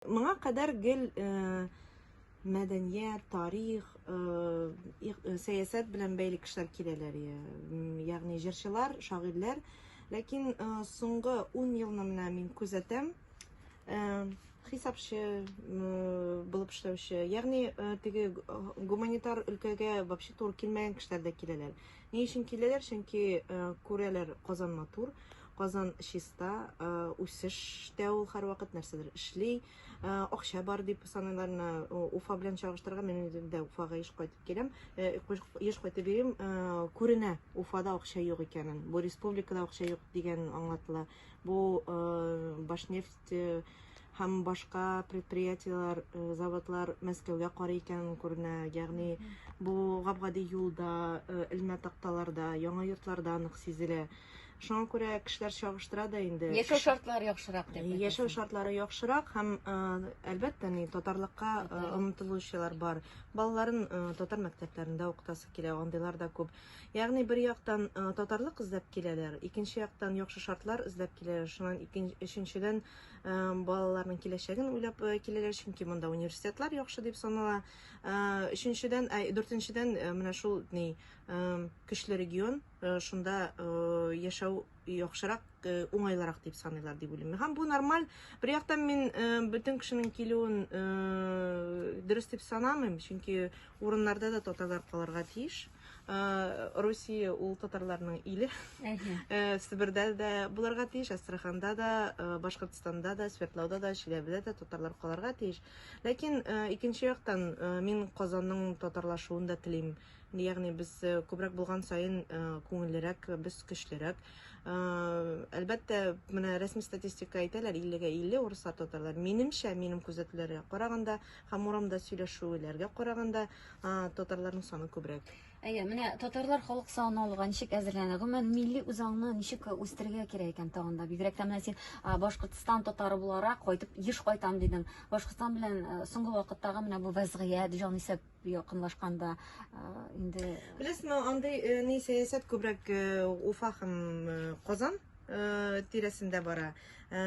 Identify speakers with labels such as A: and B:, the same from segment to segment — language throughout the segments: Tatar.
A: Моңа кадәр гел мәдәният, тарих, сәясәт белән бәйле кешеләр киләләр, ягъни җырчылар, шагыйрьләр. Ләкин соңгы 10 елны менә мин күзәтәм, хисапчы булып эшләүче, ягъни теге гуманитар өлкәгә вообще туры килмәгән кешеләр дә киләләр. Ни өчен киләләр? Чөнки күрәләр, Казан матур, Казан чиста, үсештә ул һәрвакыт нәрсәдер эшли, акча бар дип саныйлар. Менә Уфа белән чагыштырырга, мин үзем дә Уфага еш кайтып киләм, еш кайтып йөрим, күренә Уфада акча юк икәнен. Бу республикада акча юк дигән аңлатыла. Бу Башнефть нефть һәм башка предприятиеләр, заводлар Мәскәүгә карый икәнен күренә. Ягъни бу гап-гади юлда, элмә такталарда, яңа йортларда нык сизелә. Шуңа күрә кешеләр чагыштыра да инде. Яшәү шартлары яхшырак
B: дип. Яшәү шартлары яхшырак
A: һәм әлбәттә ни татарлыкка омтылучылар бар. Балаларын татар мәктәпләрендә укытасы килә, андыйлар да күп. Ягъни бер яктан татарлык эзләп киләләр, икенче яктан яхшы шартлар эзләп киләләр, шуннан икенче өченчедән балаларның киләчәген уйлап киләләр, чөнки монда университетлар яхшы дип санала. Өченчедән, ә дүртенчедән менә шул ни көчле регион, шунда яшәү яхшырак, уңайлырак дип саныйлар дип уйлыйм. Һәм бу нормаль. Бер яктан мин бөтен кешенең килүен дөрес дип санамыйм, чөнки урыннарда да татарлар калырга тиеш. Русия ул татарларның иле. Себердә дә буларга тиеш, Астраханда да, Башкортстанда да, Свердловда да, Чиләбедә дә татарлар каларга тиеш. Ләкин икенче яктан мин Казанның татарлашуын да телим. Ягъни без күбрәк булган саен күңеллерәк, без көчлерәк. Әлбәттә, менә рәсми статистика әйтәләр 50-га 50 урыслар татарлар. Минемчә, минем күзәтүләргә караганда, Һәм урамда сөйләшүләргә караганда, татарларның саны күбрәк. Әйе, менә татарлар
B: халык саны алуга ничек әзерләнә? Гомумән, милли үзаңны ничек үстерергә кирәк икән тагын да? Бигрәк тә менә син Башкортстан татары буларак кайтып еш кайтам дидең. Башкортстан белән соңгы вакыттагы менә бу вазгыять, җанисәп якынлашканда инде Беләсезме, андый
A: ни сәясәт күбрәк Уфа һәм Казан Э, тирәсендә бара. Э,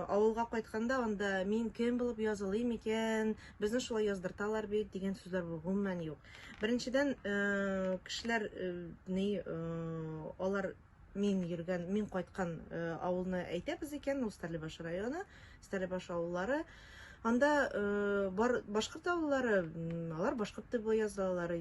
A: авылга кайтканда анда мин кем булып язылыйм икән, безне шулай яздырталар бит дигән сүзләр гомумән юк. Беренчедән, э, кешеләр ни алар мин йөргән, мин кайткан авылны әйтәбез икән, Устарлебаш районы. Стәлебаш авыллары. Анда э, бар башкорт авыллары, алар башкорт дип язалар.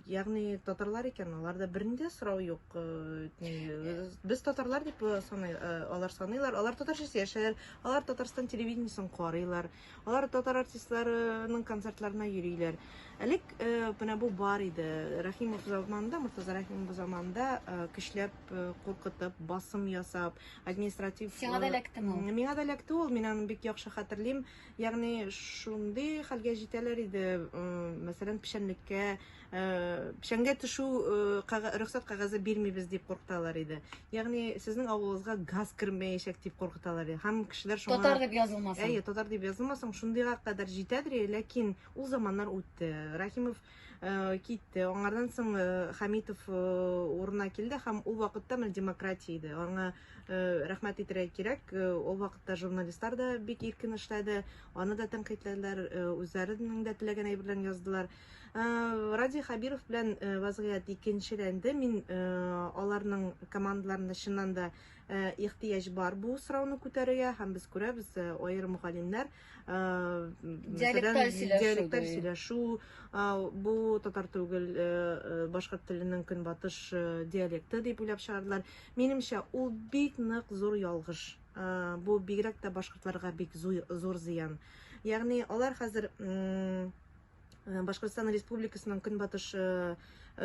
A: Ягъни татарлар икән, аларда бернинди сорау юк. Э, э, без татарлар дип саный, алар саныйлар. Алар татарча яшәр, алар Татарстан телевидениесен карыйлар. Алар татар артистларының концертларына йөриләр. Әлек менә бу бар иде. Рәхимов заманында, Муртаза Рәхимов заманында көчләп куркытып, басым ясап, административ сиңа да эләктеме
B: ул миңа да эләкте ул мин аны
A: бик яхшы хәтерлим ягъни шундый хәлгә җитәләр иде мәсәлән печәнлеккә печәнгә төшү рөхсәт кәгазе бирмибез дип куркыталар иде ягъни сезнең авылыгызга газ кермәячәк дип куркыталар иде һәм кешеләр шуңа татар дип язылмасын әйе
B: татар дип язылмасын
A: шундыйга кадәр җитәдер ләкин ул заманнар үтте рахимов Э, китте аңардан соң э, хамитов э, урынына килде һәм ул вакытта менә демократия иде аңа рәхмәт итәргә кирәк ул вакытта журналистлар да бик иркен эшләде аны да тәнкыйтьләделәр үзләренең дә теләгән әйберләрен яздылар радий хабиров белән вазгыять икенчеләнде мин аларның командаларында чыннан да ихтыяҗ бар бу сорауны күтәрергә һәм без күрәбез аерым галимнәр диалекталь сөйләшү бу татар түгел башкорт теленең көнбатыш диалекты дип уйлап чыгардылар минемчә ул бик нык зур ялгыш бу бигрәк тә башкортларга бик зур зыян ягъни алар хәзер Э, Башкортстан Республикасының көнбатыш э,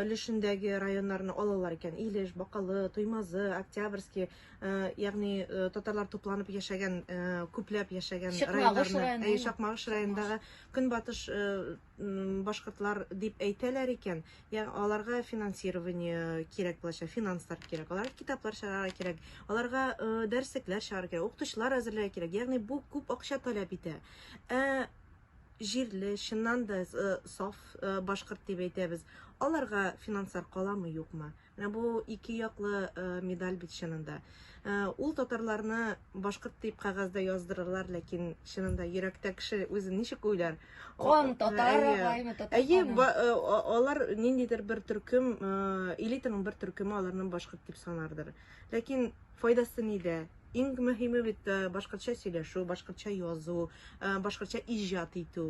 A: өлешендәге районнарны алалар икән. Илеш, Бакалы, Туймазы, Октябрьский, э, ягъни татарлар тупланып яшәгән, күпләп яшәгән районнарны, Чакмагыш районындагы көнбатыш башкортлар дип әйтәләр икән. Ягъни аларга финансирование кирәк булачак, финанслар кирәк, аларга китаплар чыгарырга кирәк, аларга дәреслекләр чыгарырга кирәк, укытучылар әзерләргә кирәк. Ягъни бу күп акча таләп итә. Ә җирле, чыннан да саф башкорт дип әйтәбез. Аларга финанслар каламы, юкмы? Менә бу ике яклы медаль бит чынында. Ул татарларны башкорт дип кәгазьдә яздырырлар, ләкин чынында йөрәктә кеше үзен ничек уйлар? Кан татар
B: агаймы татар? Әйе,
A: алар
B: ниндидер
A: бер төркем, элитаның бер төркеме аларны башкорт дип санардыр. Ләкин файдасы нидә? Иң мөһиме бит э, башкортча сөйләшү, башкортча язу, э, башкортча иҗат итү.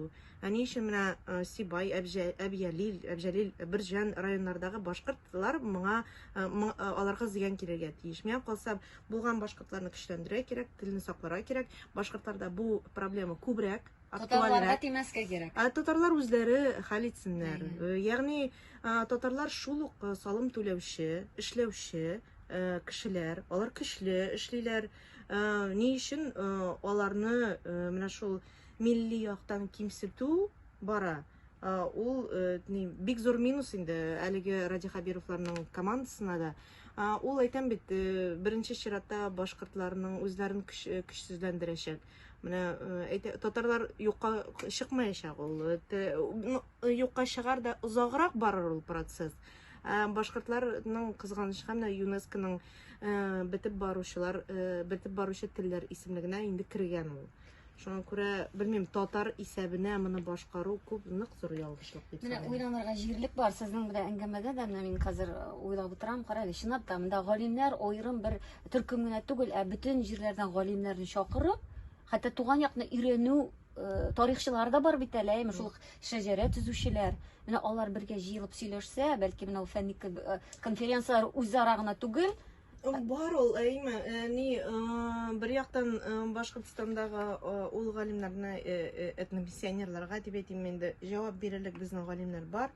A: Ә ни өчен менә э, Сибай, Әбҗәлил, Әбҗәлил, Бирҗан районнардагы башкортлар моңа аларга зыян килергә тиеш. Миңа калса, булган башкортларны көчләндерә кирәк, телне сакларга кирәк. Башкортларда бу проблема күбрәк. Татарларга
B: тимәскә кирәк. Ә татарлар үзләре
A: хәл итсеннәр. Э, ягъни татарлар шул ук э, салым түләүче, эшләүче э, кешеләр, алар көчле эшлиләр. Ни өчен аларны менә шул милли яктан кимсетү бара? Ул бик зур минус инде әлеге Ради Хабировларның командасына да. Ул әйтәм бит, беренче чиратта башкортларның үзләрен көчсезләндерәчәк. Менә әйтә, татарлар юкка чыкмаячак ул. Ну, юкка чыгар да озаграк барыр ул процесс. Ә башкортларның кызганычка менә ЮНЕСКОның бетеп баручылар, бетеп баручы телләр исемлегенә инде кергән ул. Шуңа күрә, белмим, татар исәбенә моны башкару күп нык зур ялгышлык дип Менә саныйм. уйланырга җирлек
B: бар. Сезнең белән әңгәмәдә дә менә мин хәзер уйлап утырам. Карагыз, чынлап та монда галимнәр аерым бер Төркем генә түгел, ә бөтен җирләрдән галимнәрне чакырып, хәтта туган якны өйрәнү Э, тарихчылар да бар бит әле, әйме шул шәҗәрә төзүчеләр. Менә алар бергә җыелып сөйләшсә, бәлки менә ул фәнни э, конференцияләр үзара гына түгел, бар ул
A: әйме э, ни бер яктан башкортстандагы ул галимнәрне этномиссионерларга дип әйтим инде җавап бирерлек безнең галимнәр бар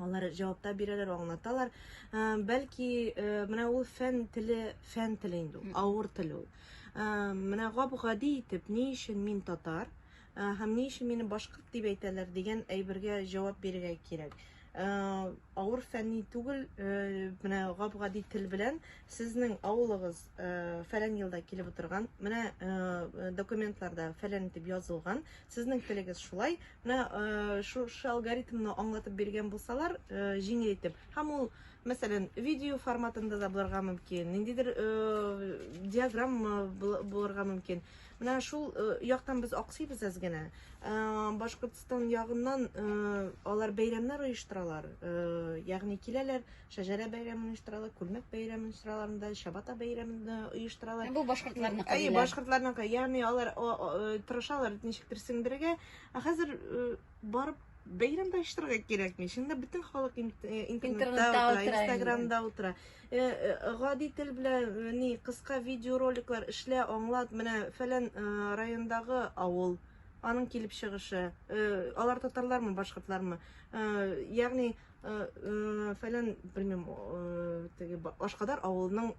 A: Алар җавапта бирәләр, аңлаталар. Ә, бәлки, ә, менә ул фән теле, фән теле инде ул, авыр тел ул. Ә, менә гап-гади итеп, ни өчен мин татар, ә, һәм ни өчен мине башкорт дип әйтәләр дигән әйбергә җавап бирергә кирәк. Ә, авыр фәнни түгел, ә, менә гап-гади тел белән сезнең авылыгыз ә, фәлән елда килеп утырган, менә ә, документларда фәлән итеп язылган, сезнең телегез шулай, Менә э, шушы алгоритмны аңлатып биргән булсалар, э, җиңел итеп. Һәм ул, мәсәлән, видео форматында да булырга мөмкин, ниндидер э, диаграмма булырга мөмкин. Менә шул яктан без аксыйбыз әз генә. Башкортстан ягыннан алар бәйрәмнәр оештыралар, ягъни киләләр, Шәжәрә бәйрәмен оештыралар, күлмәк бәйрәмен оештыралар да, чабата бәйрәмен дә оештыралар. Бу башкортларның Әй, кадерләре.
B: башкортларның кай-
A: ягъни алар о, о, э, тырышалар ничектер сеңдерергә. Ә хәзер э, барып бәйрәм дә оештырырга кирәкми. Шунда бөтен халык ин- э, Интернетта интернетта утыра, утыра инде. инстаграмда утыра. Э, э, Гади тел белән э, ни кыска видеороликлар эшлә, аңлат, менә фәлән э, райондагы авыл, аның килеп чыгышы, э, алар татарлармы, башкортлармы? Э, Ягъни Фәлән, белмим, теге Ашкадар авылының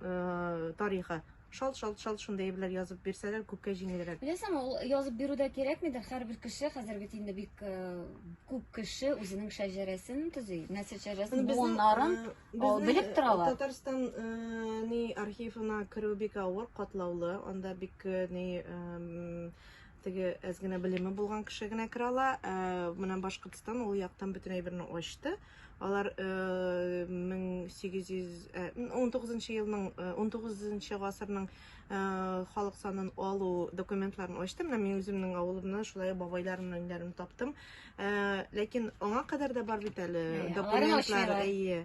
A: тарихы. Шалт, шалт, шалт шундый әйберләр язып бирсәләр, күпкә җиңелрәк. Беләсең, ул язып
B: бирү дә кирәкмидер. Һәрбер кеше хәзер бит инде бик күп кеше үзенең шәҗәрәсен төзи. Нәсел шәҗәрәсен, буыннарын белеп торалар. Татарстан
A: ни архивына керү бик авыр, катлаулы. Анда бик ни теге әз генә белеме булган кеше генә керә ала. Ә, менә Башкортстан ул яктан бөтен әйберне ачты. Алар 1819 елның 19 гасырның халык санын алу документларын ачты. Менә мин үземнең авылымны, шулай бабайларымның өйләрен таптым. Ә, ләкин аңа кадәр дә бар бит әле документлар. Әйе.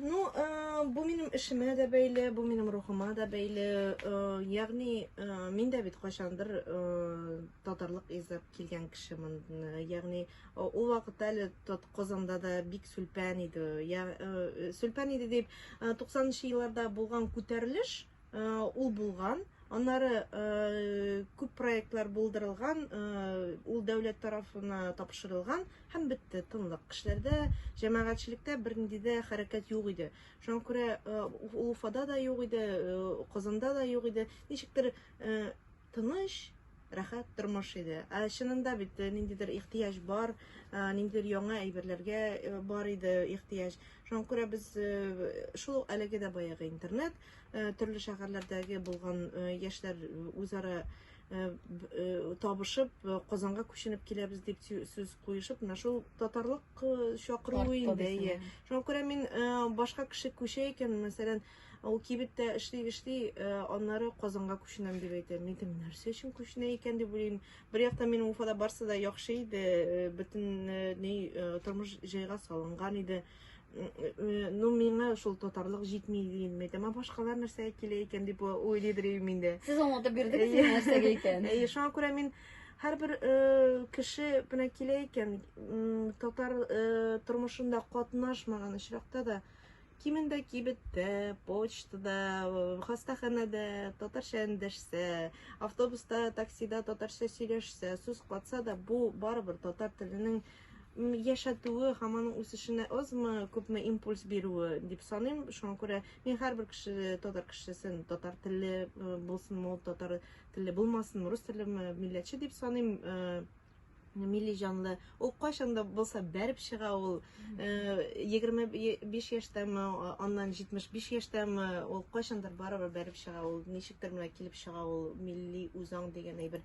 B: Ну, э,
A: бу минем эшемә дә бәйле, бу минем рухыма да бәйле. Э, ягъни, э, мин дә бит кайчандыр э, татарлык изеп килгән кешемен. Э, ягъни, э, ул вакытта әле тот Казанда да бик сүлпән иде. Я, э, сүлпән иде дип, э, 90 нчы елларда булган күтәрелеш, ул булган. Аннары күп проектлар булдырылган, ул дәүләт тарафына тапшырылган һәм бетте, тынлык. Кешеләрдә, җәмәгатьчелектә бернинди дә хәрәкәт юк иде. Шуңа күрә ул Уфада да юк иде, Казанда да юк иде. Ничектер Тыныч, рәхәт тормыш иде. Ә чынында бит ниндидер ихтыяҗ бар, ниндидер яңа әйберләргә бар иде ихтыяҗ. Шуңа күрә без шул ук әлеге дә баягы интернет, төрле шәһәрләрдәге булган яшьләр үзара табышып, Казанга күченеп киләбез дип сүз куешып, менә шул татарлык чакыруы инде. Шуңа күрә мин башка кеше күчә икән, мәсәлән, Ул кибеттә эшли эшли, э, аннары Казанга күченәм дип әйтә. Мин дим, нәрсә өчен күченә икән дип уйлыйм. Бер яктан минем Уфада барсы да яхшы иде, э, бөтен э, ни э, тормыш җайга салынган иде. М, э, Ну, миңа шул татарлык җитми дим. Мин әйтәм, «А башкалар нәрсәгә килә икән дип уйлыйдыр идем инде. Сез аңлатып бирдегез
B: Әйе. нәрсәгә икән. Әйе, шуңа күрә мин
A: һәрбер э, кеше менә килә икән, м, татар э, тормышында катнашмаган очракта да Кимендә кибеттә, почтада, хастаханәдә татарча эндәшсә, автобуста, таксида татарча сөйләшсә, сүз катса да, бу барыбер татар теленең яшәтүе һәм аның үсешенә азмы, күпме импульс бирүе дип саныйм. Шуңа күрә мин һәрбер кеше, татар кешесен, татар телле булсынмы, татар телле булмасынмы, рус телле милләтче дип саныйм. милли җанлы. Ул кайчан да булса бәреп чыга ул. 25 яшьтәме, аннан 75 яшьтәме, ул кайчандыр барыбер бәреп чыга ул. Ничектер менә килеп чыга ул милли үзаң дигән әйбер.